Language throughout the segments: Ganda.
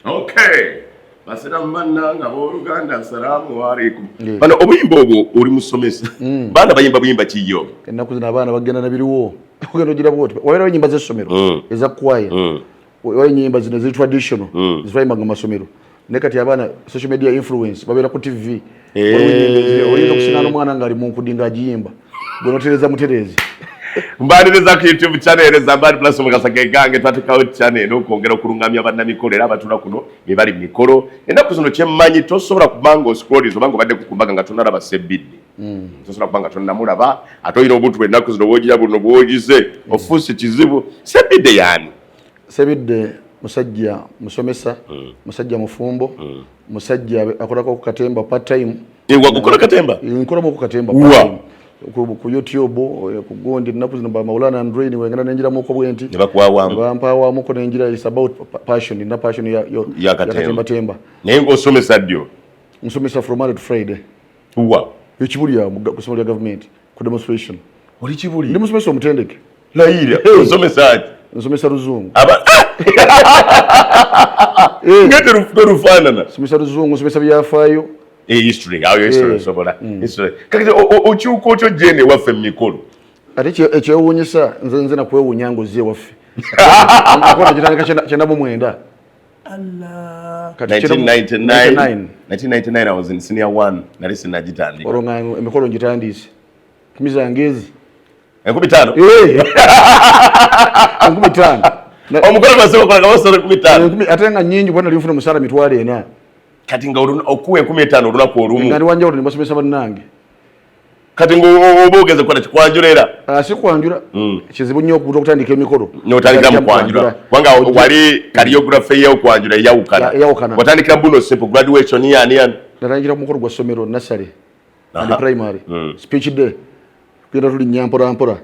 Okay. basiramu bannanga booluganda salaamu waleikum bano obuyimba obwo oli musomesa hmm. baana bayimba buyimba kiyo ennaku zino abaana bagenda nabiriwo ogenda ogira bwoti wabeerawo enyimba zessomero hmm. eza kwaya hmm. oba enyimba zino ziri traditional zivayimbanga masomero ne kati abaana social media influence babeera ku tv eh. oyinza okusingana omwana ngaali munkudi nga agiyimba gwe notereza muterezi mbaliriza ku youtube channel zambali plus mukasa gegange twatekawo channel okwongera okulungamya bannamikolo era abatula kuno bebali mu mikolo ennaku zino kyemmanyi tosobola kubanga oscrolis obanga obadde kukumbaga nga tonalaba sebidde hmm. tosobola kubanga tonamulaba ate olina obuntu bwennaku zino bwogira buno bwogize ofuusi kizibu sebidde yaani sebidde musajja musomesa mm. musajja mufumbo mm. musajja akolako ku katemba part time ewakukola eh, katemba eh, nkolamu ku katemba part time ku youtube eh, ku gundi ennaku zino ba maulana android wengenda nenjiramuko bwenti nebampawamuko nenjira is about passion na passion yakatembatemba naye ngaosomesa ddyo nsomesa from monday to friday wa ekibuli awo ku ssomero lya gavumenti ku demonstration oli kibuli ndi musomesa omutendeke layira osomesa ki nsomesa luzungu aba ngete lufuto lufanana somesa luzungu somesa byafaayo eh history ayo history eh. sobola mm. history kakati okyuka otyo jene waffe mikolo ate ekyewunyisa nze nze nakwewunya ngozi ewaffe akona kitandika kyenda mu mwenda Allah. 1999, 1999 I was in senior 1 nali sinagitandika. Olonga emikolo ngitandise. Kimiza ngezi. Enkumi tano. Eh. Enkumi tano. Omukolo masoko kola kawo sore kumi tano. Enkumi atenga nyingi bwana lifuna musara mitwale ena. Kati nga okuwa enkumi tano oluna kwa olumu. Ngani wanja oluni basomesa banange. kati ngoba ogeze kukola kikwanjula era ah, si kwanjula hmm. kizibu nnyo okuta okutandika emikolo notandikira mu kwanjula kubanga wali kaliyografe eyokwanjula eyawukana watandikira buno simple graduation yaniyani natandikira ku mukolo gwa ssomero nasale and primary hmm. speech day kugenda tulinnya mporampora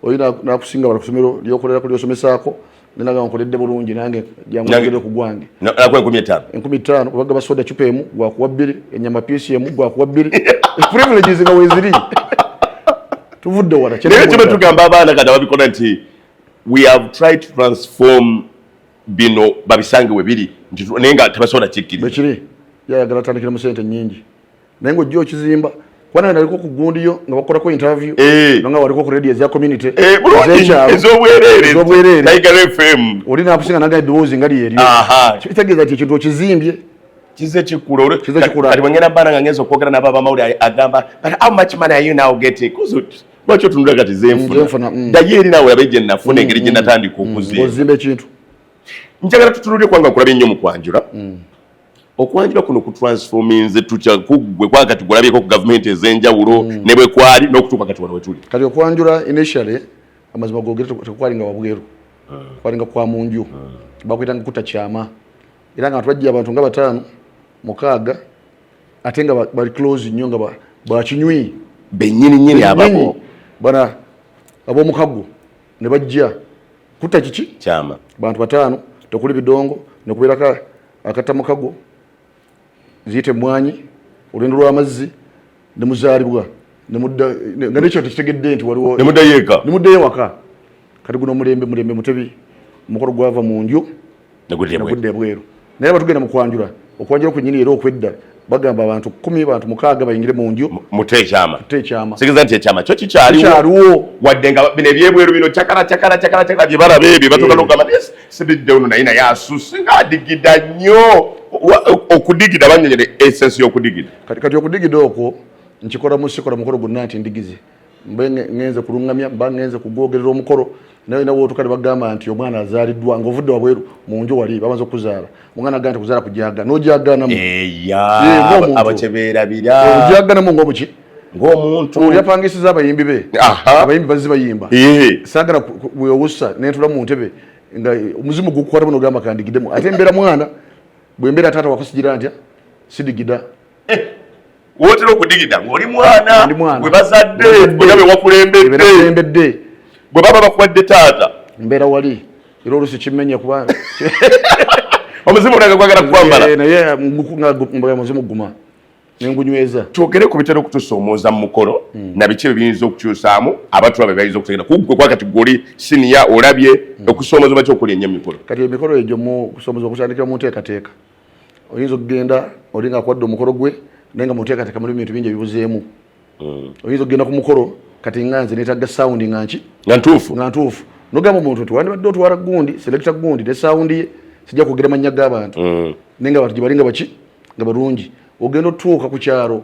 oyo nakusinga bala kusomero lyokolera ku lyosomesaako nenaga nkoledde bulungi nange janguogere ku gwange nakuwa enkumi etaano enkumi etaano kubaga basoda cupa emu gwakuwa bbiri enyama piisi emu gwakuwa bbiri privileges nga weziri tuvudde wala naye kiba tugamba abaana kati ababikola nti we have tried to transform bino babisange we biri naye nga tebasobola kikkiriza yayagala atandikira mu sente nyingi naye ng'ojja okizimba kubanga naliko ku gundiyo nga bakolako interview eh. nga waliko ku radio eza community eh, ezobwereerezobwereerefm oli nakusinga naga eddoboozi nga lyeri kitegeeza ti ekintu okizimbye kize kikula kibangenda bana nga ngenza okwogera nabo abamawulire agamba but how much money are you now getting lwaki otunula kati zenfuna mm, mm. daye eri nawe abe gyenafuna mm, engeri gyenatandika okuzimba ekintu njagala tutunulire kubanga nkulabye nnyo mu kwanjula okwanjula kuno ku transforminze tukya kugwe kwa kati gulabyeko ku government ezenjawulo mm. ne bwe kwali n'okutuuka kati wano wetuli kati okwanjula initially amazima gogere tekwali nga wabweru mm. kwali nga kwa munju mm. bakuyita nga kuta kyama era nga twajja abantu nga bataano mukaaga ate nga bali close nnyo nga bakinywi benyini nyini ababo bana abomukago ne bajja kutta kiki kyama bantu bataano tekuli bidongo nekubeerako akatta mukago ziyite mwanyi olwendo lw'amazzi nemuzaalibwa nga nekyo tekitegedde nti waliwo nemuddayo eka nemuddayo ewaka kati guno omulembe mulembe mutebi omukolo gwava mu nju negudde ebweru naye batugenda mukwanjula okwanjula kwenyini era okwedda bagamba abantu kumi bantu mukaaga bayingire mu nju mute ekyama mute ekyama sigeza nti ekyama kyo kikyaliwo wadde nga bino ebyebweru bino cakala cakala cakala cakala bye balaba ebyo batuuka nokugamba naye sibidde ono naye naye asusi nga adigida nnyo okudigida banyonyere esensi y'okudigida kati okudigida okwo nkikola mu sikola mukolo gwonna nti ndigize mbe ngenze kulungamya mba ngenze kugwogerera omukolo naye nawe otuka ne bagamba nti omwana azaaliddwa ng'ovudde wabweru mu nju wali bamaze okuzaala omwana agamba nti kuzaala kujaga n'ojaganamu abakyebeerabira ojaganamu ng'omuki ng'omuntu oli apangisiza abayimbi be abayimbi bazzi bayimba saagala wewussa nentula mu ntebe nga omuzimu gukukwata bunogamba kandigidemu ate mbeera mwana bwe mbeera taata wakusigira ntya sidigida eh, wotera okudigida ng'oli mwana gwe bazadde oya be wakulembedde bwe baba bakuwadde taata mbeera wali era olusi kimenye kuba omuzimu olanga kwagala kukwambala eh, naye nga muzimu guma nengunyweza twogere ku bitera okutusoomooza mu mukolo hmm. na biki bebiyinza okukyusaamu abatula be bayinza okutegera kugwe kwa kati guli siniya olabye hmm. okusoomoza bakyokola enyo emikolo kati emikolo egyo mu kusoomoza okutandikira mu nteekateeka oyinza okugenda oli nga akwadde omukolo gwe naye nga muteekateeka mulimu bintu bingi ebibuzeemu hmm. oyinza okugenda ku mukolo kati nga nze netagga sawundi nga nki nga ntuufu nga ntuufu nogamba omuntu nti wandibadde otwala gundi selekita gundi ne sawundi ye sijja kwogera mannya g'abantu hmm. naye nga abantu gye bali nga baki nga balungi ogenda otuuka ku kyalo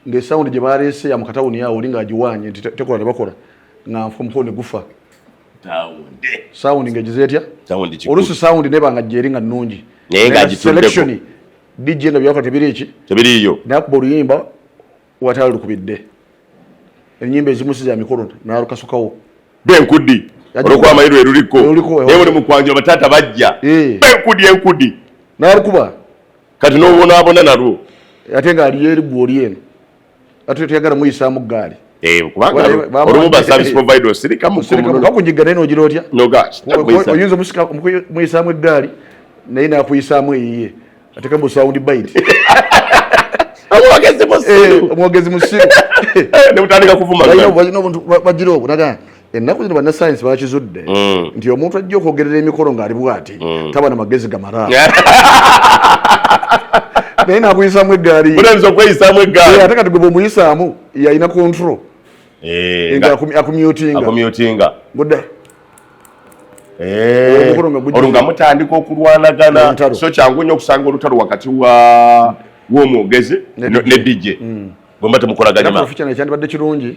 ngaesawundi gye baleese ya mu katawuni awo oli ng'agiwaanye nti tekola ne bakola nga nfa omukolo ne gufa sawundi ngaegize etya oluusi sawundi neba nga gyeri nga nnungi selection dj nga byakola tebiri eki tebiriiyo nakuba oluyimba watala lukubidde enyimba ezimu si za mikolo nalukasukawo benkudi olwokuba amayi lwe luliko naye buli mukwanjula bataata bajja eh. benkudi enkudi nalukuba kati nobonabona nalwo ate nga aliyo erigwa oli eno ate tuyagala muyisaamu ggaali eh, bakugiga naye nogira otya oyinza muyisaamu eggaali naye nakuyisaamu eyiye ateka mu sound bite omwogezi musiru eh, eh, bagira obwo naga ennaku zino bannasayansi bakizudde mm. nti omuntu ajja okwogerera emikolo ng'ali bwati mm. taba na magezi gamala naye nakuyisamu eggaaliyinza okweyisamu eggaali ate kati gwe bwomuyisaamu yalina control eh, akumyutinga gudde eh, olwo nga mutandika okulwanagana so kyangu nnyo okusanga olutalo wakati w'omwogezi ne dj mm. bwemba temukolaganyamakyandibadde kirungi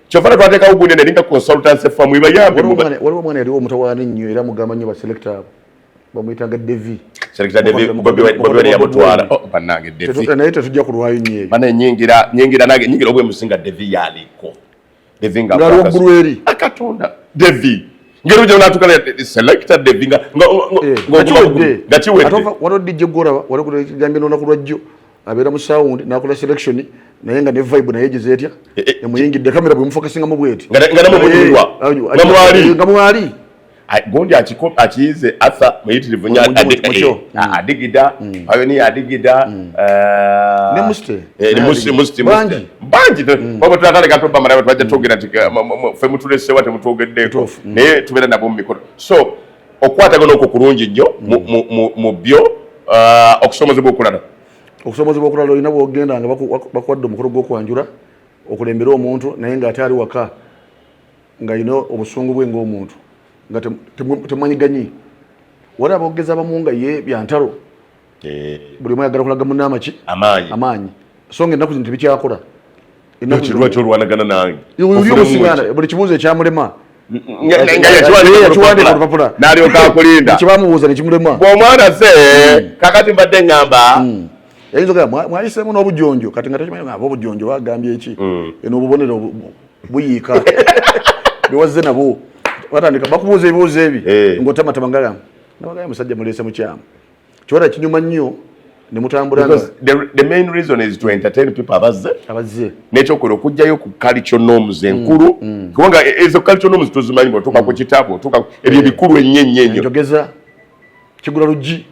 kyova na twatekawo gundi nalinga consultancy famu ibayambe waliwo omwana yaliwo omutawaana ennyo era mugamba nnyo baselekta abo bamuyitanga devi naye tetujja kulwayo nyingira nange nyingira obwemusinga devi yaliko devi nga waggulu eri akatonda ah, devi ngeri ojja natuka selecta devi nga eh, kiwedde nga kiwedde waliwo dijje gwolaba waliwo kigambye nonaku lwajjo abeera mu sound nakola selection naye nga ne vibe naye gize etya eh, eh, emuyingidde kamera bwe mufokasinga mu bweti nga nga namu bulwa nga mwali nga mwali gondi akiko akize atha muyitirivu nya adigida ayo ni adigida ne muste ne muste muste muste banji babo twakale gato bamara watu baje togera fe mutulese wate mutogedde naye tubera nabo mikono so okukwatagana okwo kulungi nnyo mu byo uh, okusomozebwa okulala okusomozebwa okulala olina bwogenda nga bakuwadde omukolo gwokwanjula okulembera omuntu naye nga ate ali waka nga yina obusungu bwe ngaomuntu nga temanyiganyi waliwo abogeza bamu nga ye byantalo eh. buli omu ayagala kulaga munne amaki amaanyi so nga ennaku zino tebikyakula kirwa kyolwanagana nange buli kibuuzo ekyamulema kibamubuuza nekimulema omwana se hmm. kakati mbadde ngamba hmm. yayinza mwayisemu n'obujonjo kati nga takimanyi aba obujonjo bagambye eki hmm. eno obubonero buyiika bewazze nabwo batandika bakubuuza ebibuuzo ebi eh. ngaotamatama ngagamba nabagaya musajja muleese mukyamu Kiwara kinyuma nnyo ne mutambula nga the, the main reason is to entertain people abazze abazze n'ekyo kwe okujjayo ku culture norms mm, enkulu mm. kubanga mm. ezo culture norms tuzimanyi bw'otuuka mm. ku kitabo otuuka ebyo eh. ebikulu ennyo ennyo ennyo njogeza kigula luggi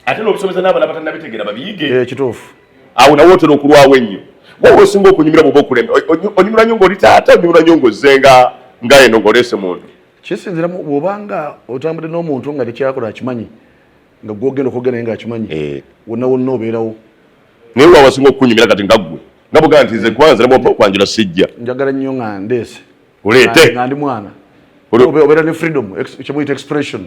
ate n'okusomesa n'abana batannabitegeera babiyige eh, kituufu awo nawe otera okulwawo ennyo wowe osinga okunyumira bwoba okulema onyumira nyo ngaoli taata onyumira nyo ngaozze nga nga eno ngaoleese muntu kisinziramu bwobanga otambudde n'omuntu nga tekyakola akimanyi nga gwogenda okwogera naye ngaakimanyi eh. wonna wonna obeerawo naye wawasinga okukunyumira kati nga ggwe nga bugamba nti nze kwanza namuwapa okwanjula sijja njagala nnyo nga ndeese oleete nga ndi mwana obeera ne freedom kyemuyita expression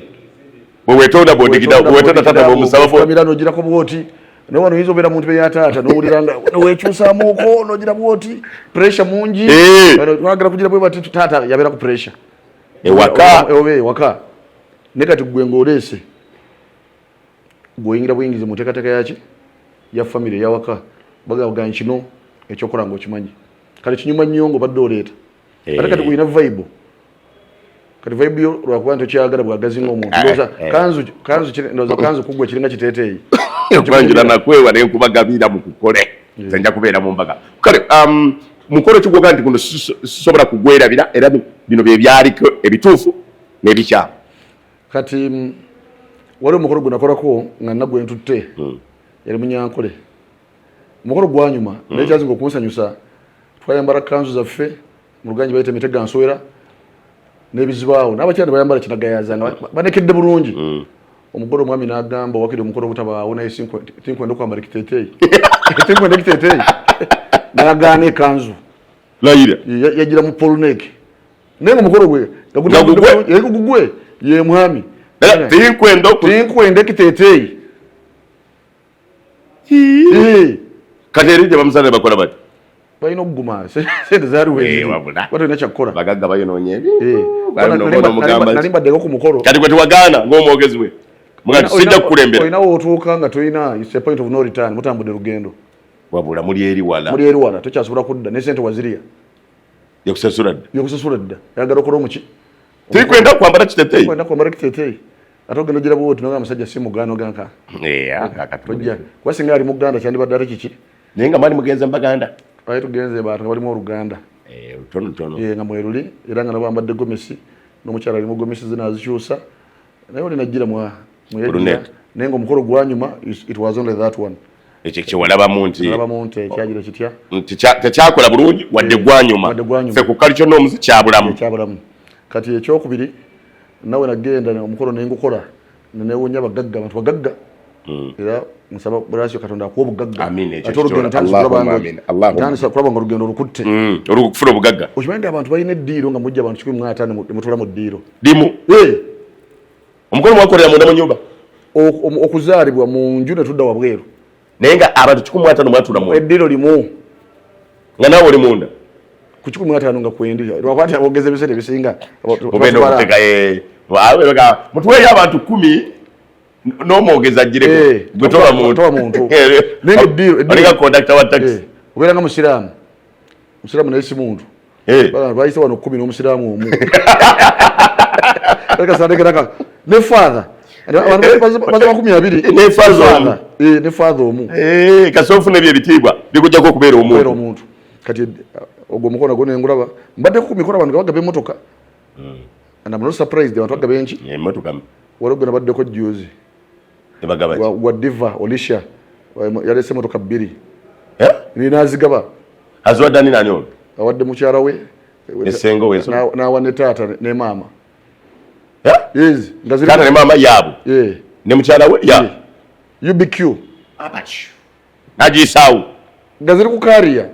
wewetonda bwodigidawetonda tata bomusabafuamira nogirako bwoti naye wano oyinza obeera muntu beyataata nowulira nga wekyusamuuko nogira bwoti pressure mungi eh. wagala kugira bwebati taata yabeera ku pressure ewaka oba ewaka ne kati gwe ng'oleese gweoyingira buyingizi mu nteekateeka yaki ya famire eyawaka bagaga kino ekyokola nga okimanyi kale kinyuma nnyo nga obadde oleeta eh. ate kati gulina vaibu kati vaibu yo lwakuba nti okyagala bwagazi ngaomuntu eh, eh. kanzu kanzu kugwe kiringa kiteeteeyi okwanjula nakwewa nenkuba gabiira mu kukole nze nja kubeera mu mbaga kale um, mukolo kigwoga nti guno sisobola kugwerabira era bino bye byaliko ebituufu n'ebikyamu kati mm, waliwo omukolo gwe nakolako nga nagwe ntutte hmm. yali munyankole omukolo gwanyuma hmm. naye kyazinga okunsanyusa twayambala kanzu zaffe mu luganji bayita emitega nsowera n'ebizibaawo n'abakyala ne bayambala kinagayaza nga banekedde bulungi hmm. omugole omwami n'agamba wakiri omukolo ogutabaawo naye tinkwenda okwambala ekiteteeyi tinkwenda ekiteteeyi n'agaana ekanzu layira yagira mu polnek naye omukolo gwe gagugwe ye mwami tinkwenda ekiteteeyi kati eri tebamusana bakola bati balina okuguma sente zaliwewabulabalina kyakkola bagagga bayonoonye nali mbaddeko ku mukolo kati gwe tewagaana ng'omwogezi we sijja kukulembera olina wotuuka nga tolina is a point of no return mutambudde lugendo wabula muli eri wala muli eri wala tokyasobola kudda ne sente waziriya yakusasula dda yakusasula dda yagala okola omuki Tikwenda kwambara kitetei. Kwenda kwambara kitetei. Ate ogenda ojira bwoti noga musajja si mugano ganka. Yeah, kaka tujja. Kwa singa ali muganda kyandi badare kiki. Naye nga mali mugenze mbaganda. Ayi tugenze ba bali mu Uganda. Eh, tono tono. Ye nga mweruli era nga nabambadde gomesi n'omukyala ali mu gomesi zina azikyusa. naye oli najjira mwa muyajjira naye nga omukolo gwanyuma it was only that one ekyo kyewalabamu nti tekyakola bulungi wadde eh, gwanyuma fe ku kali kyonna omuzi kyabulamu kati ekyokubiri nawe nagenda omukolo nengukola nenewunya bagagga bantu bagagga Mm. era nsaba bweraso katonda akuwa obugaggaaatandisa kulaba nga olugendo olukutte mm. olukufuna obugagga okimanyi nti abantu balina eddiiro nga mujja abantu kikumi mwataano mutula mu ddiiro limu omukono mwakolera munda mu nyumba okuzaalibwa mu nju ne tudda wabweru naye nga abantu kikumi mwataano mwatula mu eddiiro limu nga naawe oli munda ku kikumi mwataano nga kwendi lwakwati abogeza ebiseera ebisinga mutuweeyo abantu kumi n'omwogezi ajjireko eh, gwe toba muntu olinga kondakita wa takisi obeera nga musiraamu musiraamu naye si muntu bayise wano kumi n'omusiraamu omu ne father baza makumi abiri ne father omu eh, kasi ofuna ebyo ebitiibwa bikujjako okubeera omuntu kati ogwo omukono gwo nengulaba mbadde ku mikono abantu gabagaba emotoka mm. and I'm not surprised abantu bagaba enki emotoka waliwo gwe nabaddeko juzi wa diva olisha yalese emotoka bbiri eh? ninazigaba aziwaddani nani ono awadde mukyala we nawa ne taata ne maama eh? taata ne maama yaabo ne mukyala we ya ubq nagisaawo nga ziri ku kariya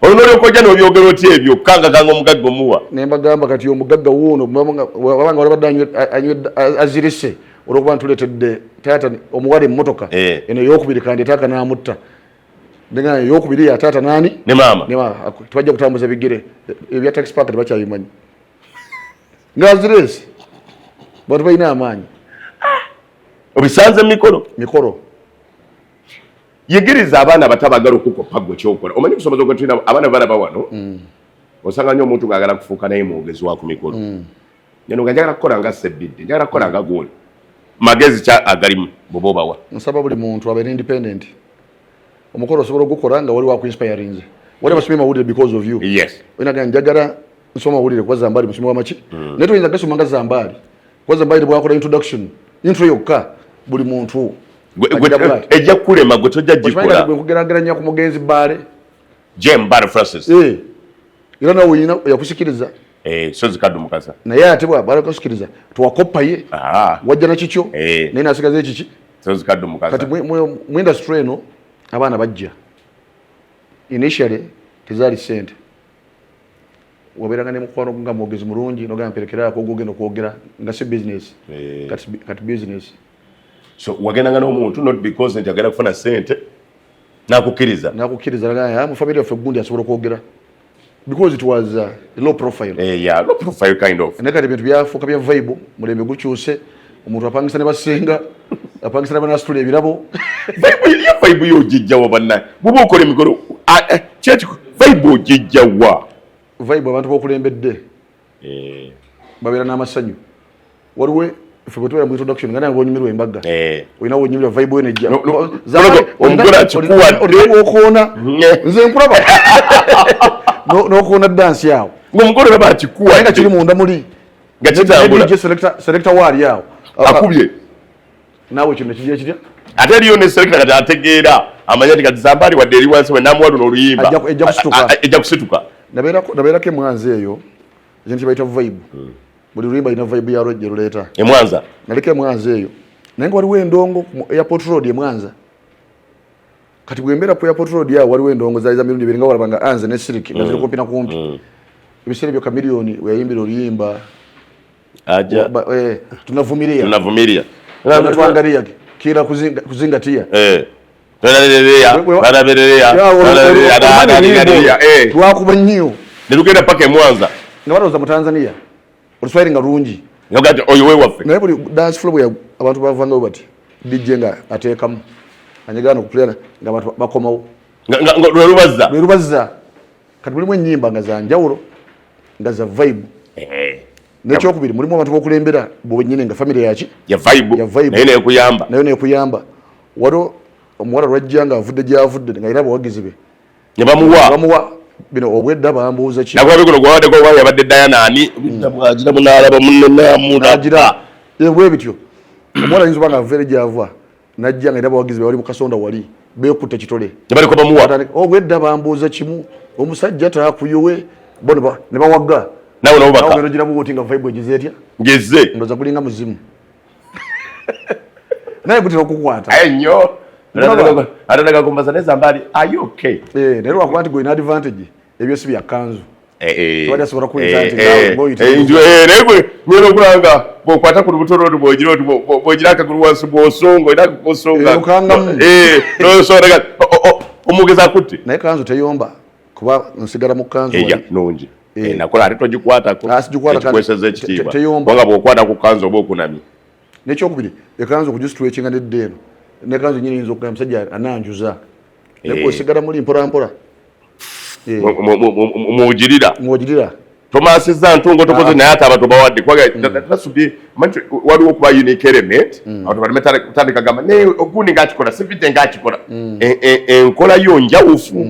olwo nolyoka ojja nobyogera oti ebyo kukangakanga omugagga omuwa naye mbagamba kati omugagga wuuno wabanga olabadde azirise olwokuba ntuletedde taata omuwala emmotoka eh. eno eyokubiri kandi taaka namutta nengana eyokubiri ya taata nani ne maama tebajja kutambuza bigere ebya tax park tebakyabimanyi ngaziresi bantu balina amaanyi ah! obisanze mumikolo mikolo yigiriza abaana abato abagala okukoppa gwe kyokola omanyi kusomesa okutulina abaana balaba wano mm. osanga nyo omuntu ngaagala kufuuka naye mwogezi wa ku mikolo mm. neno nga njagala kukola nga sebbidde njagala kukola nga gooli magezi kya agalimu bwoba obawa nsaba buli muntu abeere independent omukolo osobola ogukola nga wali wakuinspirinze wali basomye mawulire because of you yes oyina gani njagala nsoma mawulire kuba zambaali musomi wamaki mm. naye toyinza gasoma nga zambaali Waza bayire bwakola introduction. Intro yokka buli muntu. Ejja kulema gwe tojja jikola. Gwe kugeraganya ku mugenzi Bale. Jem Bale Francis. Eh. Ila na uyina yakusikiriza. Eh, so zikadu mukasa. Na yeye atibwa Bale kusikiriza. Tuwakopa ye. Ah. Wajja na chicho. Eh. Nina asigaze chichi. So zikadu mukasa. Kati mwe mwe mwe industry no abana bajja. Initially tezali sente. wabeeranga ne mukwano nga mwogezi mulungi nogamba mperekeraako ogwogenda okwogera nga si bizinesi eh. kati bizinesi so wagendanga n'omuntu not because nti agenda kufuna sente nakukkiriza nakukkiriza ah, mu family yaffe gundi asobola okwogera because it was uh, low profile eh, yeah, low profile kind of naye kati bintu byafuuka bya vibe mulembe gukyuse omuntu apangisa ne basenga apangisa ne banasitula ebirabo iyo vaibu yo ojijjawa bannaye bwoba okola emikolo kyeki vaibu ojijjawa vaibu abantu bokulembedde eh. babeera n'amasanyu waliwo ffe bwetubeera mu introduction nga nawe bonyumirwa embaga eh. olina wonyumirwa vaibu yo nejja omugole akikuwaddeokuona nze nkulaba n'okuona dansi awo ngaomugole olaba akikuwa nga kiri munda muli nga kitambula je selector selector wali awo akubye nawe kino kijja kijja ate liyo ne selector kati ategeera amanya tika zambali wa deli wansi wena mwadu no luyimba ejja kusituka ejja kusituka nabera ko nabera ke mwanzi eyo jinti baita vibe hmm. buli luyimba ina vibe ya roje ruleta e mwanza nalike mwanzi eyo nango wali wendongo airport road e mwanza kati bwembeera ku airport road ya waliwo endongo zaali za mirundi ibiri nga walaba nga anze ne siriki nga ziri mm. kumpi na kumpi mm. ebiseera ebyo kamiliyoni weyayimbira oluyimba aja eh, tunavumiria tunavumiria tunatwangalia kila kuzinga, kuzingatia eh lwakuba nnyo ne lugenda paka emwanza nga balowooza mu tanzania oluswayiri nga lungi nogati oyo wewaffe naye buli dance flow ya abantu bavangayo bati dj nga ateekamu anyegana okukulera nga abantu bakomawo lwelubazza lwelubazza kati mulimu ennyimba nga za njawulo nga za vibe eh. nekyokubiri mulimu abantu bokulembera bwenyini nga famiry yaki ya vibenaye nekuyamba nayo nekuyamba waliwo omuwala lwajja nga avudde gyavudde nga era abawagizi be ne bamuwa bamuwa bino obwedda bambuuza ki nagwa bikono gwa wadde gwa yabadde Diana ani obwedda bwagira munalaba munne namu nagira ebwe bityo omwana yinzo banga vere gyavwa najja nga bawagizi bali mu kasonda wali bekutte kitole ne baliko bamuwa obwedda bambuuza kimu omusajja takuyowe bona ba ne bawagga nawe nabo baka nawe ngira buwoti nga vibe egize etya ngeze ndoza kulinga muzimu naye gutera okukwata aye nnyo atanaga kumbaza neza mbali are you okay eh naye lwakuba nti gwena advantage ebyo si bya kanzu eh, eh. tewali asobola kuwulira eh, nti nawe boyita naye gwe gwena okulanga bwokwata ku lubuto lwo bwogira oti bwogira akagulu wansi bwosonga olina kukusonga nosoraga omugezi akutte naye kanzu teyomba kuba nsigala mu kanzu nungi eh. eh, nakola ate togikwatako ah, ekikweseza ekitiibwa kubanga bwokwata ku kanzu oba okunamye nekyokubiri ekanzu okujisitwekinga nedda eno nekanzu nyini yinza okugamba musajja ananjuza eh. naye osigala muli mpolampola mwogirira mwogirira tomasiza ntungo tokoze ah. naye ate abantu bawadde kubaga mm. tasubye manti waliwo okuba unique element mm. abantu balime tandika gamba naye ogundi ngaakikola sivide ngaakikola mm. e, e, enkola yo njawufu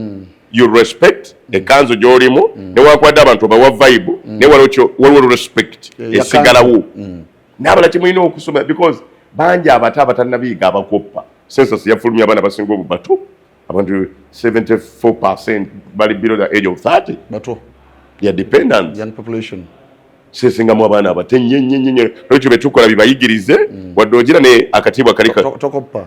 you respect ekanzu gyolimu mm. newankubadde abantu obawa vibe mm. naye waliwo respect esigalawo mm. nabala kimulina okusoma because bangi abato abatanabiyiga abakoppa census yafulumya abaana basinga obubato abantu 74 percent bali below the age of 30 bato ya dependent young population sesingamu abaana abato ennyo nnyo nnyo nolwekyo betukola bibayigirize wadde ogira ne akatiibwa kali tokoppa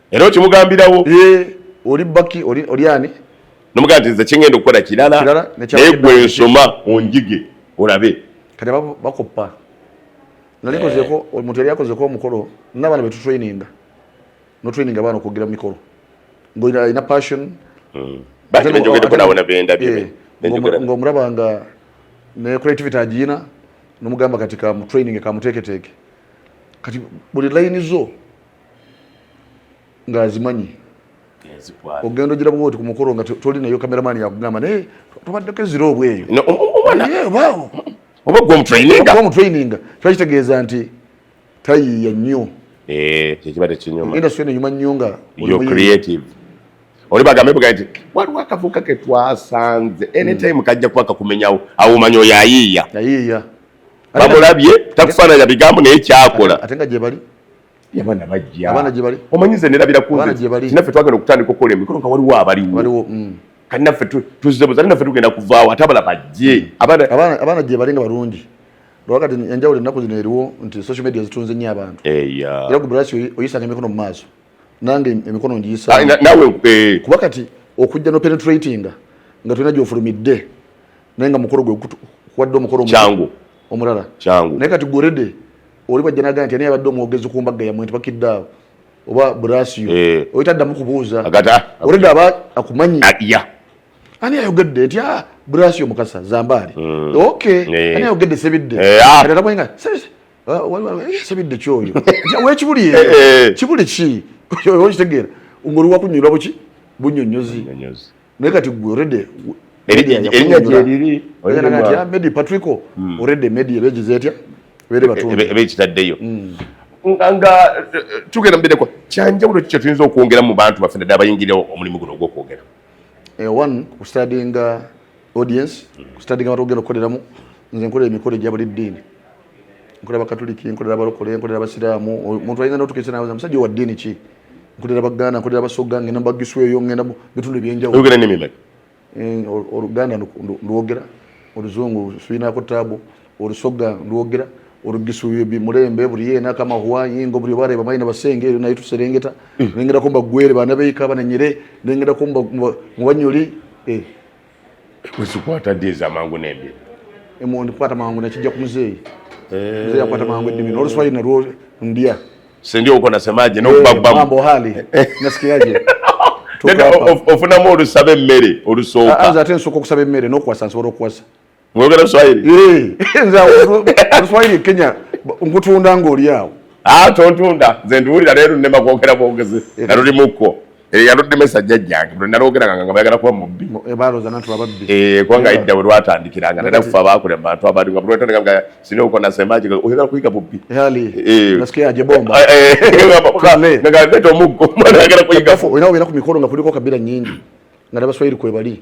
era okimugambirawo eh, oli baki oli ani nomugaa nti nze kyengenda okukola kirala naye gwe nsoma onjige olabe kati bakoppa nalikozeko eh. omuntu yali akozeko omukolo nabaana betutraininga notraininga abaana okwogera mumikolo ngaolina passion hmm. eh, ngaomulaba nga ne creativity agiyina nomugamba kati kamutraininge kamuteeketeeke kati buli layini zo ng'azimanyi ogenda ogira bwoti ku mukolo nga toli nayo kameramani yakugamba naye tubaddeko ezira obweyo oba gwomutraininga kiba kitegeeza nti tayiiya nnyo eh, kyekiba tekinyuma industry eno nyuma nnyo nga creative oli bagambe buga nti waliwo akavuka ke twasanze anytime hmm. kajja kuba kakumenyawo awo omanya oyo ayiiya bamulabye takufaananya bigambo naye kyakola ate nga gyebali yabana bajja abana gye bali omanyize nera bira kunze gye bali nafe twagala okutandika okola emikolo nga waliwo abaliwo waliwo mm. kati nafe tuzze buzali nafe tugenda kuvaawo ate abala bajje mm. abana abana abana gye bali nga balungi lwakati enjawulo ennaku zino eriwo nti social media zitunze nnyo abantu eya era ku brasi oyisanga emikono mu maaso nange emikono ngiyisa ah, nawe eh. kuba kati okujja no penetratinga nga tulina gyofulumidde naye nga mukolo gwe kuwadde omukolo kyangu omulala kyangu naye kati gorede oli bajja nagamba nti ani yabadde omwogezi ku mbagga yamwe nti bakidde awo oba brasio eh. oli taddamu kubuuza oledi ah, aba akumanyi ah, ani ayogedde nti ah, brasio mukasa zambaali hmm. ok eh. ani ayogedde sebidde atamwenga eh, sebidde kyoyo wekibuli eyo kibuli ki okitegeera ngoli wakunyulwa buki bunyonyozi naye kati gwe already erinya gyeriri medi patrico hmm. already medi eba egize etya eba ekitaddeyo hmm. nga tugenda mubireko kyanjawulo kikyo tuyinza okwongera mu bantu baffe naddala abayingira omulimu guno ogwokwogera eh, one kustadinga audience hmm. kustadinga abantu ogenda okukoleramu nze nkola emikolo egya buli ddiini nkolera bakatuliki nkolera abalokole nkolera abasiraamu omuntu ayinza notukesa nawe musajja wa ddiini ki nkolera baganda nkolera basoga ngenda mubagisu eyo ngenda bitundu ebyenjawuloyogera nimi meka eh, oluganda ndwogera oluzungu sulinako tabu olusoga ndwogera olugisu mulembe buli yena kama huwa yingo buli bare bamayi na basenge eyo naye tuserengeta mm. nengera komba gwere bana beika bana nyere nengera komba mubanyoli eh Kuzikwata ddi ez'amangu n'embi? Emondi kukwata mangu nakijja ku muzeeyi. Eh. Muzeeyi akwata mangu eddimi n'oluswayiri nalwo ndya. Sendi uko nasemaje no eh, baba mambo hali nasikiaje tukafa ofunamu olusabe mmere olusooka anza ah, ah, ate nsoko kusabe mmere no kwasa nsobola okwasa Mwogera Swahili? Eh, nze Swahili Kenya nkutunda ng'oli awo. Ah, tontunda. Nze ndiwulira leero nnema kwogera bwogezi. Eh. Naluli mukko. Eh, yaludemesa jjajjange buli nalwogeranga nga bayagala kuba mubbi eh, kubanga idda bwe lwatandikiranga nera kufa baakule mubantu abandi nga bulwetandika nga sina okona semaji oyagala kuyiga bubbi omuggo mwana ayagala kuyigaoina obeera ku mikolo nga kuliko kabira nyingi nga nabaswahiri kwebali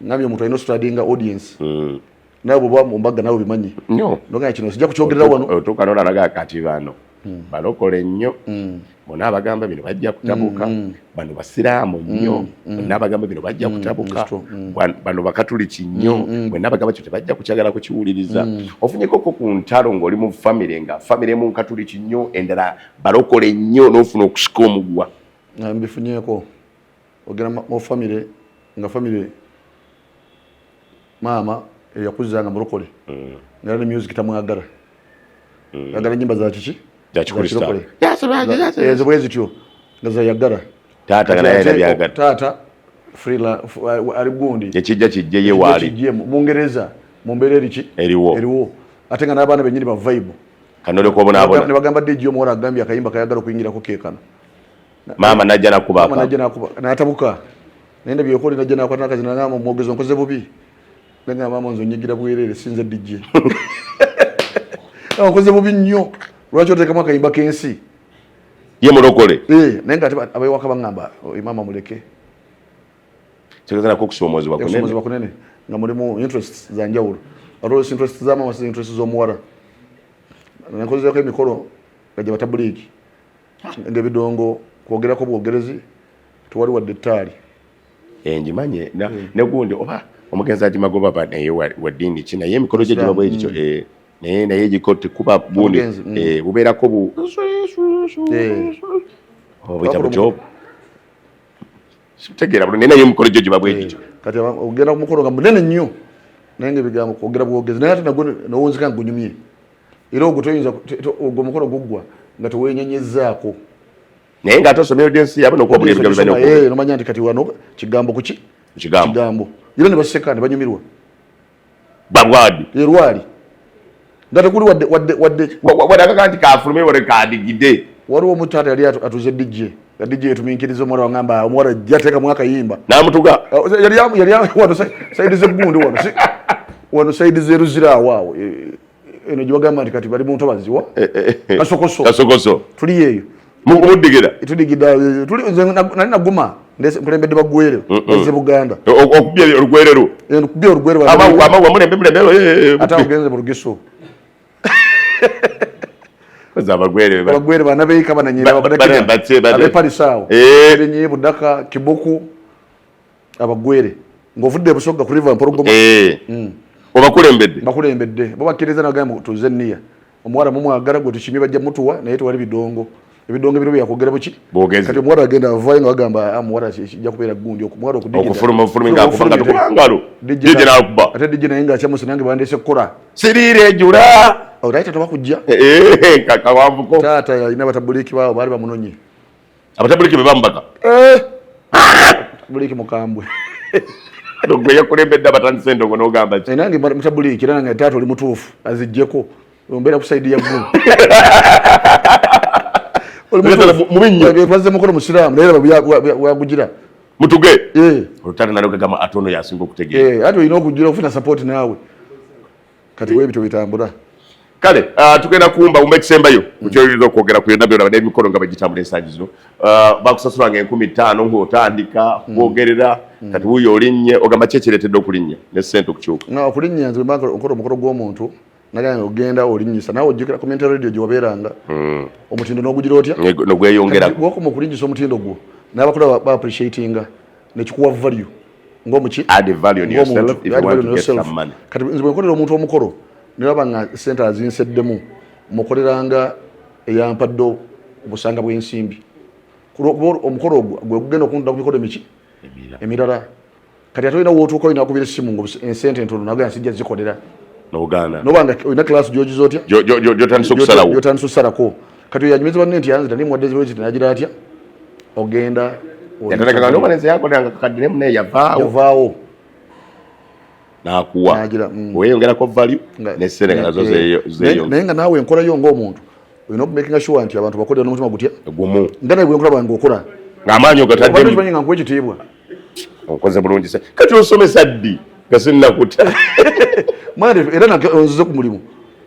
nabyo omuntu alina ositradinga audience mm. nawe bwoba mumbaga nawe bimanyi nogana kino sijja kukyogerera wano otuuka nolalaga kati bano mm. balokole nnyo mm. bona abagamba bino bajja kutabuka mm. bano basiraamu nnyo mm. mm. bona abagamba bino bajja mm. kutabuka mm. bano bakatuliki nnyo mm. mm. bona abagamba kyo tebajja kukyagala kukiwuliriza mm. ofunyekoko ku ntalo ng'oli mu famire nga famire emu nkatuliki nnyo endala balokole nnyo n'ofuna okusika omugwa mbifunyeko ogera mu famire nga famire maama eyakuza nga mulokole mm. ngera ne music tamwagala mm. agala nyimba za kiki ezo bwe zityo nga zayagala taata naye nabyagala taata frila ali gundi ekijja kijje ye waali kijje mu bungereza mu mbeera eriki eriwo eriwo ate nga n'abaana bennyini ba vibe kanole kubonaabona ne bagamba dj omuwala agambye akayimba kayagala okuyingirako keekano maama najja nakuba najja nakuba natabuka nenda byokole najja nakwata nakazi nangamba mwogezo nkoze bubi nanga maama nzo nyigira bwerere sinze DJ nkoze bubi nnyo lwaki otekamu akayimba kensi ye mulokole eh naye nga abewaka bangamba oh, maama muleke tegeza nako okusoomozebwa kunene nga mulimu interest za njawulo always interest za maama si interest z'omuwala nakozezako emikolo nga gye batabuliiki ngebidongo kwogerako bwogerezi tewali wadde ettaali engimanye eh, hmm. negundi oba omugenzi agimagoba ba naye waddiini ki naye emikolo gye giba bwegityo hmm. eh, naye naye giko tekuba bundi hmm. eh, bubeerako bu obuyita oh, bukyobu sitegeera bulo naye naye emikolo gyo giba bwegityo kati ogenda kumukolo nga munene nnyo naye nga ebigambo kwogera bwogezi naye ate nagwo nowunzika nga gunyumye era ogwo toyinza ogwo mukolo guggwa nga tewenyenyezzaako naye nga ate osomye odensi yabe nokubabulibigabibanomanya nti kati wano kigambo kuki kigambo era ne baseka ne banyumirwa balwadi erwali nga tekuli wadde wadde wadde wadde akaga nti kafulume wale kadigide waliwo omutaata yali atuze dj nga dj etuminkiriza omuwala wangamba omuwala jateka mwaka yimba namutuga yali yali wano saidi zegundu wano wano saidi zeruzira awaawo eh, eno gyebagamba nti kati bali mu ntobazi wa eh, eh, eh, kasokoso kasokoso tuli eyo mukubudigera tudigida nali naguma nkulembedde bagwere eze buganda okubya olugwerero okubya olugwerero amagwa mulembe mulembe ate agenze mu lugiso abagwere abagwere bana beika bananyera abaparisawo benye budaka kibuku abagwere ng'ovudde ebusogga ku river mpologoma eh. mm. obakulembedde bakulembedde bo bakkiriza nagamba tuze niya omuwala mumwagala gwe tukimye bajja mutuwa naye tewali bidongo ebidongo bino byakwogera buki kati omuwala agenda avayo nga bagamba ah, muwala kijja kubeera gundi omuwala okudiate dije naye nga akyamusi nange bandese kukola siriira ejula olai oh, tata bakujja eh, eh, kakawavuko taata yalina batabuliki baabo baali bamunonye abatabuliki be bamubaka eh! buliki mukambwe gwe yakulembedde abatandise endongo n'ogamba ki eh, nange mutabuliki era nange taata oli mutuufu azijjeko ombeera ku saidi ya ggulu mubinnyobazze mukono musiraamu naye wagugira mutuge eh. olutale nalogagama ate ono yasinga okutegeera ate olina okugira okufuna sapooti naawe kati webityo bitambula kale uh, tugenda kumba umba ekisembayo kukyoyinza okwogera ku byonna byona n'emikolo nga bagitambula ensangi zino uh, bakusasula nga enkumi ttaano ngaotandika mm. kwogerera mm. kati wuyo olinnye ogamba ki ekireetedde okulinnya ne ssente okukyuka na okulinnya nze banka okola omukolo gw'omuntu nagamba nga ogenda olinnyisa nawe ojjukira ku menta radio gyewabeeranga mm. omutindo n'ogugira otya nogweyongera wakoma okulinnyisa omutindo gwo n'abakula ba appreciatinga nekikuwa value kati nze bwenkolera omuntu omukolo nebaba nga sente azinseddemu mukoleranga eyampadde obusanga bwensimbi omukolo ogwo gwegugenda okunda ku mikolo emiki emirala kati ate olina wotuuka olina kubira esimu nga ensente ntono nagea sijja zikolera nobanga olina class gyogiza otya gyotandisa okusalako kati oyo anyumiza banne nti yanzita naye muwadde zibwe zita nagira atya ogenda yatandikaga nobalenzi yakolanga kakadde naye munaye yavaawo yavaawo nakuwa nagira mm. weyongerako value nesente nga nazo zeyo naye nga naawe enkolayo ng'omuntu olina okumakinga sure nti abantu bakolera n'omutima gutya gumu nga naye gwenkola bwange okola ng'amaanyi ogataddemu nga nkuwa ekitiibwa okoze bulungi se kati osomesa ddi nga sinnakuta mwana era nonzize ku mulimu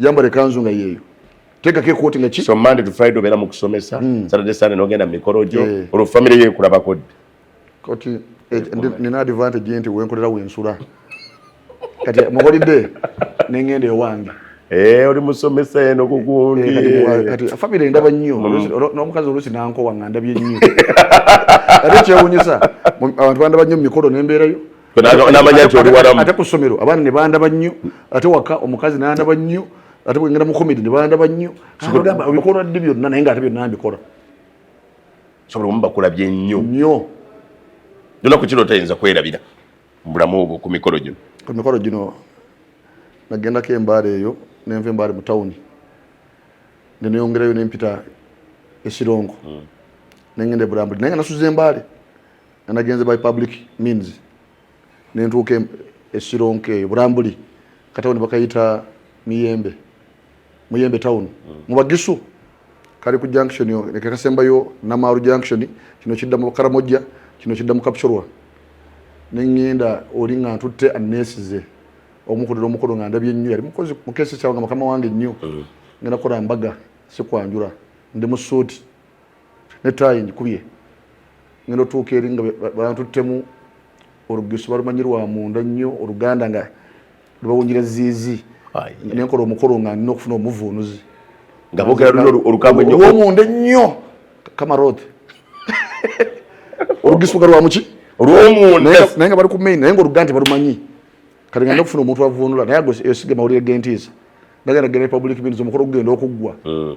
yambala ekanzu nga yeeyo tekako ekooti nga ki so monday to friday obeera mu kusomesa hmm. saturday sunday nogenda mu mikolo gyo eh. olwo famire yo ekulabako ddi kati eh, nina advantage nti wenkolera wensula kati muholide nengenda ewange eh, oli musomesa eno kugundi famire ndaba nnyo hmm. n'omukazi oluusi nankowa nga ndabye nnyo ate kyewunyisa abantu bandaba nnyo mu mikolo nembeerayo ate ku ssomero abaana ne bandaba nnyo ate waka omukazi nandaba nnyo ate bwengenda mu komedi ne bandaba nnyo bikolwa ddi byonna naye nga ate byonna mbikola sobola omu bakulabye nnyo nnyo nona ku kino otayinza kwerabira mu bulamu obwo ku mikolo gino ku mikolo gino nagendako embaala eyo nenva embaale mu tawuni neneyongerayo nempita esirongo mm. nengenda ebulambuli naye nga nasuza embaale nagenze by public means nentuuka esironka eyo bulambuli katawuni bakayita miyembe muyembe town mm. mubagisu kali ku junction nekakasembayo namaaru junction kino kidda mu karamojja kino kidda mu kapchorwa nengenda oli nga ntutte anesize omukulira omukulu nga ndabye nnyo yali mukozi mukesi kyawa nga mukama wange nnyo mm. ngenda kukola mbaga sikwanjula ndi mu suuti ne tayi njikubye ngenda otuuka eri nga bantuttemu olugisu balumanyi lwa munda nnyo oluganda nga lubawunjira ziizi nenkola omukolo nga nina okufuna omuvuunuzi nga bogera luno olugambo nnyo olwomunda ennyo kamarod olugisu nga lwamuki olwomunda naye nga bali ku main naye nga oluganda tebalumanyi kati nga nina okufuna omuntu avuunula naye ago eyo sige mawulire gentiisa nagenda genda republic bindi zomukolo gugenda okuggwa hmm.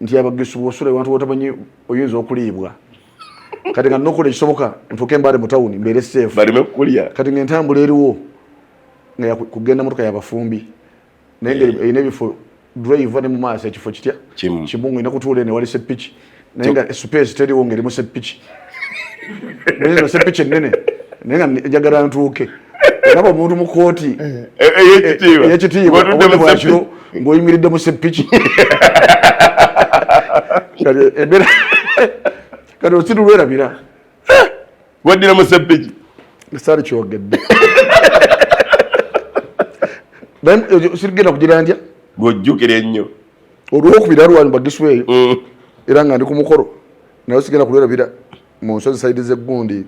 nti abagisu bwosula ewantu wotamanyi oyinza okuliibwa kati nga nokola ekisoboka ntuuke mbaale mu tawuni mbeere seefu kati nga entambula eriwo nga kugenda motoka yabafumbi naye nga erina ebifo drive ne mu maaso ekifo kitya kimu nga olina kutuula eno ewali seppiki naye nga space teriwo nga eri mu seppiki nze sepiki ennene naye nga njagala ntuuke olaba omuntu mu kooti eh, eh, eh, eyekitiibwa obwakiro ng'oyimiridde mu sepiki embeera kati osiru lwerabira waddira mu sepiki esaali kyogedde sirigenda kugira ndya ng'ojjukira ennyo olwokubira lwanyu bagisweeyo mm. era nga ndi ku mukolo nayo sigenda kulwerabira mu nsozi saidi z'eggundi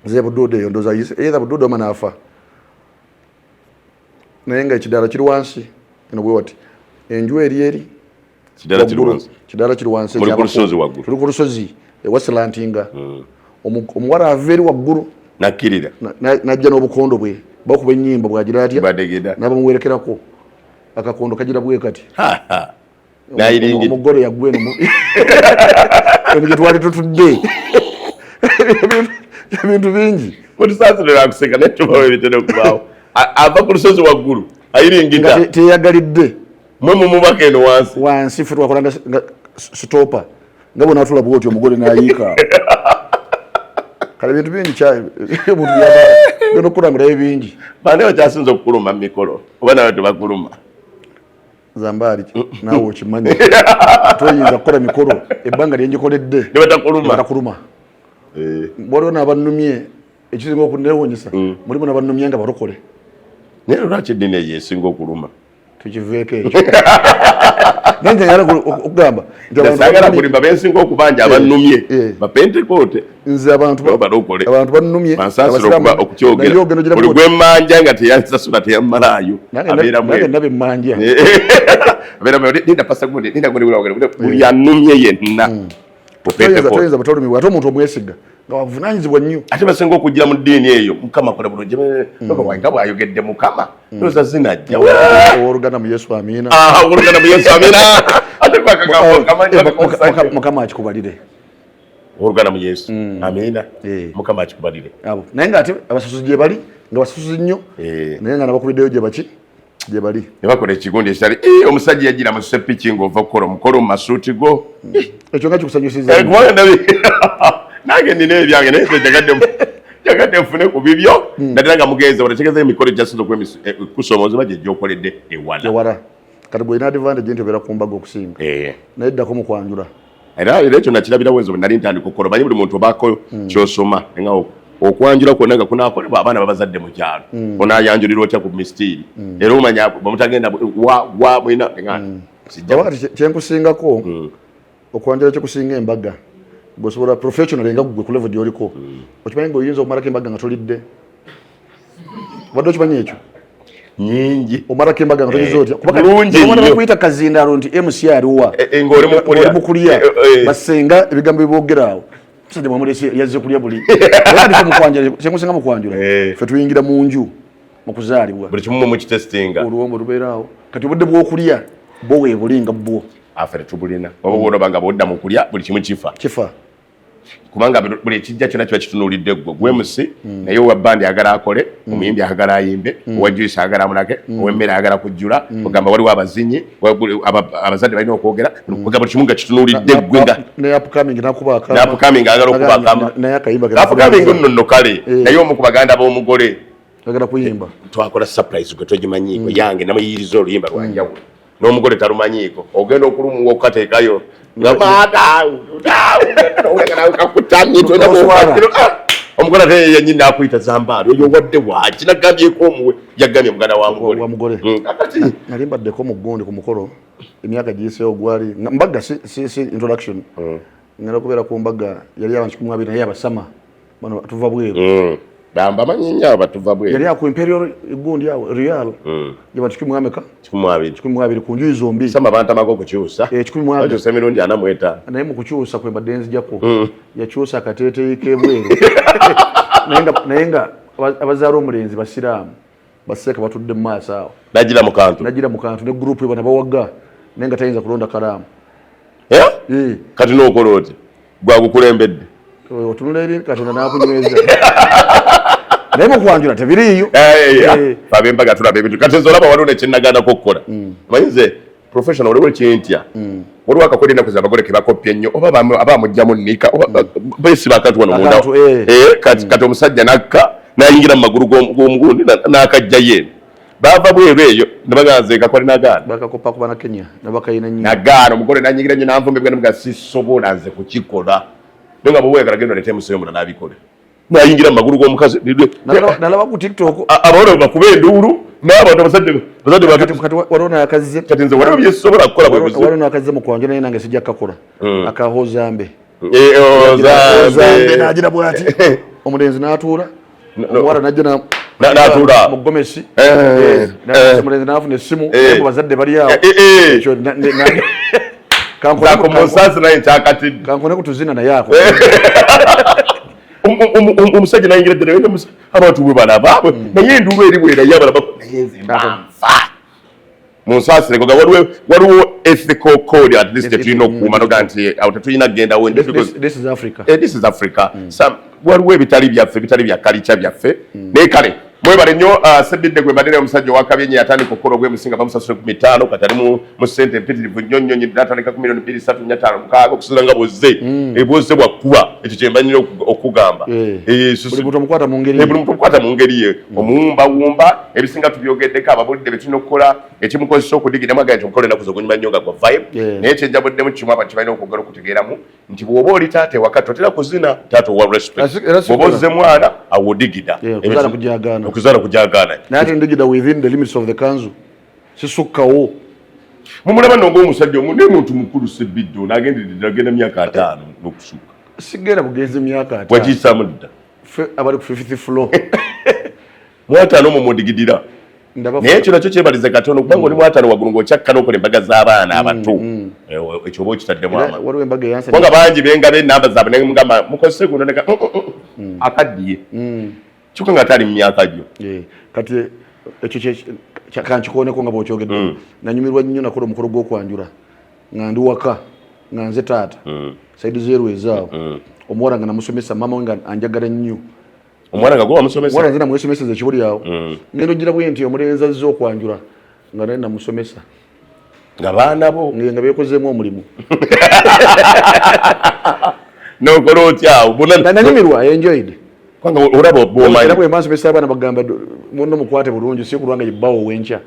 zebuduuda eyo ndoza either buduuda omana afa naye nga ekidaala kiri wansi eno bwe wati enju eri eri kidaala kiri wansi tuli ku lusozi ewasilantinga hmm. omuwala ava eri waggulu nakkirira najja n'obukondo bwe bakuba ennyimba bwagira atya nabamuwerekerako akakondo kagira bwe kati omugole yagwa eno eno gyetwali tutudde ebintu bingi otusaasirerakuseka naye tubawo ebitera okubaawo ava ku lusozi waggulu ayiringita teyagalidde mwe mumubaka eno wansi wansi fe twakola nga sitopa nga bona atula bwoti omugole nayiika kale bintu bingi omuntu yaba nokukulangulayo bingi bane bakyasinza okukuluma mumikolo oba nawe tebakuluma zambaali naawe okimanyi toyinza kukola mikolo ebbanga lyenjikoledde nebatakuluma eh. waliwo nabanumye ekisinga okunewunyisa mm. mulimu nabanumye nga balokole naye lwaki eddini eyo esinga okuluma tukiveeko ekyo nange okugamba sagala kulimba bensinga okubanja abanumye eh. bapentekote nze abantu banumye gwemanja nga teyansasula teyamalaayo buli anumye yenna mm. ate omuntu omwesiga nga wavunanyizibwa nnyo ate basinga okujja mu ddiini eyo mukama kola bulungi mm. nga bwayogedde mukama mm. oza zinajja owoluganda mu yesu amina ah, owoluganda mu yesu amina ate mukama akikubalire oluganda mu yesu mm. amiina eh. mukama akikubalire abo naye nga ate abasusuzi gye bali nga basusuzi nnyo eh. naye nga nabakubiddeyo gye baki gye bali ne bakola ekigundi ekitali eh, omusajja yajjira mu sepiki ng'ova okukola omukolo mu masuuti go mm. ekyo nga kikusanyusiza nange nina ebyange naye njagadde njagadde nfune ku bibyo mm. naddala nga mugenze wanategeeza emikolo gyasinza okukusoomoozebwa gyejja okoledde ewala kati gwolina advantage nti obeera kumbaga okusinga naye ddako mu kwanjula era era ekyo nakirabira wenzo nali ntandika okukola omanyi buli muntu obaako hmm. kyosoma nga okwanjula kwonna nga kunakolebwa abaana babazadde mu kyalo hmm. onayanjulira otya ku misitiiri hmm. era omanya bamutagenda wa mwina kyenkusingako okwanjula kyekusinga embaga gwesobola professional nga gwe kulevo gyoliko okimanyi nga oyinza okumalako embaga nga tolidde obadde okimanyi ekyo nyingi omarako embaga nga togeza otya kubaaana bakuyita kazindalo nti mc aliwa eh, eh, ngaoli mukulya eh, basenga ebigambo bibogerawo musajja mwamulese yazze kulya buli kyemusinga mukwanjula fe tuyingira mu nju mukuzaalibwa buli kimu mumukitestinga oluwombo lubeeraawo kati obudde bwokulya bo webuli nga bwo afe tetubulina oba bwolaba nga bwodda mukulya buli kimu kifa kifa kubanga buli ekijja kyona kiba kitunulidde gwe gwemusi mm. mm. naye owa bandi agala akole mm. omuyimbi agala ayimbe owa juisi agala amulage owemmere agala kujjula ogamba waliwo abazinyi abazadde balina okwogera kuga buli kimu nga kitunulidde gwe ngaapkaming agala okubakamapkaming nonno kale eh. naye omu ku baganda b'omugole twakola surprise gwe togimanyiko yange namuyiriza oluyimba lwanjawulo n'omugole talumanyiiko ogenda okulumuwa okukateekayo nga maataawuakutamyetwenaa omugole ate yanyini nakuyita zambaali oyo wadde waki nagambyeko omuwe yagambye muganda wamugole hmm. nali mbaddeko mu gundi ku mukolo emyaka giyiseewo gwali mbaga si introduction hmm. ngenda kubeera ku mbaga yali abantu kikumwabiri naye abasama bano batuva bweru mm. bamba manyi nnyo abo batuva bweru yali aku imperial egundi awo real mm. gye bati kikumi mwameka kikumi mwabiri kikumi mwabiri ku njuyi zombi sama bantamaga okukyusa eh, kikumi mwabiri bakyusa emirundi ana mu etaano naye mu kukyusa kwe mbadde nzijako mm. yakyusa akateeteyi k'ebweru naye nga abazaala omulenzi basiraamu baseeka batudde mu maaso awo najira mu kantu najira mu kantu ne group ebana bawagga naye nga tayinza kulonda kalaamu eh? eh. kati n'okola oti gwagukulembedde otunula eri katonda n'akunyweza naye mukwanjula tebiriiyo eh, babe mbaga tulaba ebintu kati nze olaba waliwo nekyenagaanako okukola mm. omanyi nze professional waliwo kyentya mm. waliwo akakola enaku zabagole kebakoppya ennyo oba aba amugjamu nika oba mm. besiba akantu wano munda eh. Eh, kati mm. omusajja nakka nayingira mu magulu gomugundi nakajja ye bava bweru eyo nebaganzekakwali nagaanagaana omugole nanyingira nyo nanvumibwa nemuga sisobola nze kukikola naye nga bwewegala genda olete museyo muna nabikole nayingira mumagulu gomukazi nalaba ku tiktok abawona bakuba enduulu nabantu abazadde bazadde kati nze waliwo byesobola kukola bwewaliwo nakazze mukwanja naye nange sijja kakola hmm. akahozambe eh, oh, ozambe nagira bwati omulenzi natuula omuwala najja natula mugomesi eh, eh, omulenzi nafuna essimu bazadde balyawo kankone kutuzina naye ako omusajja nayingira ddala wena abantu bwe balaba mm. naye enduulu eri bwerayo abalaba naye nze mbanfa munsaasireko ga waliwo ethical code at least tetulina okuuma noga nti awo tetulina kugendawo this is africa eh, mm. waliwo ebitali byaffe bitali bya kalica byaffe mm. naye kale mwebale nnyo uh, sebidde gwe mbadde naye omusajja owakabye nyo yatandika okukola ogwemusinga bamusasule ku mitaano kati ali mu sente empitirivu nnyo nnyo nyo natandika ku milioni bbiri satu nya taano mukaaga okusinza nga bwozze mm. ebwozze bwakuba ekyo kyembanyira okugamba eh. eh, buli muntu omukwata mu ngeri eh, ye mm. omuwumbawumba ebisinga tubyogeddeko ababulidde betulina okukola ekimukozesa okudigiramu agane nti omukolo enaku zogunyuma nnyo nga gwa vibe naye kyenjabuddemu kimu abantu kibalina okwogera okutegeeramu nti bwoba oli taata ewaka totera kuzina taata owa respectbwoba ozze mwana awodigida okuzaala kujagaana sisukkawo mumulaba nonga omusajja omu naye muntu mukulu sebiddo nagenderedde agenda myaka ataano nokusukka sigenda kugenza emyaka wagiyisaamu dda fe abali ku fifth floor mwataano mu mudigidira naye ekyo nakyo kyebalize katono kubanga oli mwatano waggulu ng'okyakka n'okola embaga z'abaana mm, abato mm. ekyo oba okitaddemu amabanga bangi bengaba enamba zaabwe naye mugamba mukozese guno neka mm, mm. akaddiye kyokka nga taali mu myaka gyo eh, kati ekyo kankikooneko nga bwokyogedde nanyumirwa nnyo nakola omukolo gw'okwanjula nga ndi waka nga nze taata saidi zeerwezaawo omuwala nga namusomesa mama we nga anjagala nnyo omwana nga gwa musomesa mwana zina mwesomesa ze kibuli yawo mm. ngendo jira bwe nti omulenzi azze okwanjula nga naye namusomesa nga baana bo nga bekozeemu omulimu nokola otya awo nanyumirwa enjoyed kubanga olaba obwomanyi era bwe mbansomesa abaana bagamba muno mukwate bulungi si kulwanga yebbawo wenkya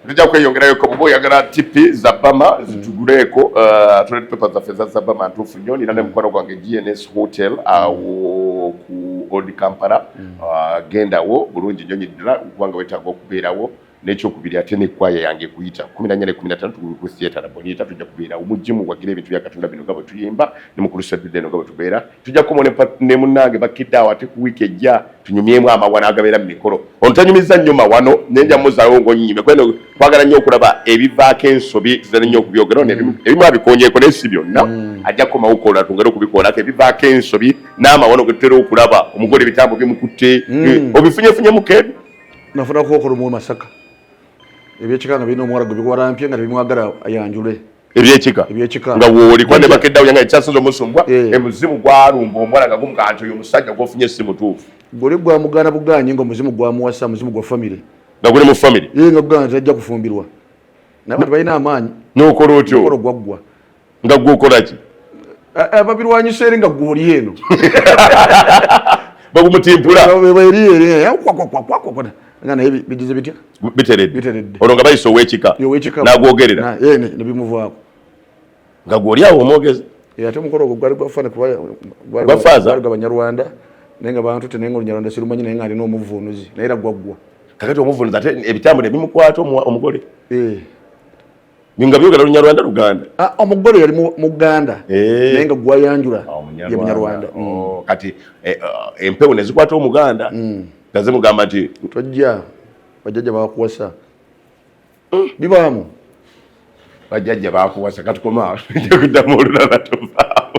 Nija kweyongerayo ko bubo yagala tipi za bama zituguleko uh, toilet paper za feza za bama ntufu nyo nina ne mkwano gwange GNS hotel awo ku Old Kampala mm. uh, genda wo bulungi nyo nyidira kwanga wetago kubera wo nekyokubiri ate nekwaya yange kuyita kumi nanya ne kumi natano tugulu ku theatre na bonita tujja kubeera omujjimu wagira ebintu bya katonda bino nga bwe tuyimba ne mukulu sabiride no nga bwe tubeera tujja kukomawo ne munnange bakkidde awo ate ku wiiki ejja tunyumyemu amawa n'agabeera mu mikolo ono tanyumizza nnyo mawano naye nja muzaawo ng'onyime kubera kwagala nnyo okulaba ebivaako ensobi zitera nnyo okubyogera ono mm. ebimu abikonyeeko naye si byonna mm. ajja kukomawo kola twongere okubikoolako ebivaako ensobi n'amawano ge tutera okulaba omugole ebitambo bimukutte mm. eh, obifunyefunyemu kebi nafunakookolo mu masaka ebyekika nga birina omuwala gwe biwalampye nga tebimwagala ayanjule ebyekika ebyekika nga woli kwa ne bakedda yanga ekyasinze omusumbwa eh. emuzimu gwalumba omwana nga gumkanto yo musajja gwofunye si mutuufu gole gwa mugana buganye ngo muzimu gwa muwasa muzimu gwa family nga guli mu family yeye nga bugana tajja kufumbirwa nabantu balina amaanyi nokola otyo okolo gwaggwa nga gwokola ki ababirwanyisa eri nga gwoli eno bagumutimpula naye bigize bitya biteredde olwo nga bayisa owekika nagwogerera nebimuvaako nga gwoli awo omwogezi ate omukolo ogwo gwali gwafana kubagwafaaza gwabanyarwanda naye nga bantu te naye nga olunyarwanda sirumanyi naye nga alina omuvunuzi naye era gwaggwa kakati omuvunuzi ate ebitambula ebimukwata omugole eh. nga byogera lunyarwanda luganda ah, omugole yali muganda eh. naye nga gwayanjula ah, ye munyarwanda oh, mm. kati eh, ah, empewo nezikwata omuganda mm. nga zimugamba nti tojja bajajja bakuwasa mm. bibaamu bajajja bakuwasa katukoma kuddamu olulala tuvaamu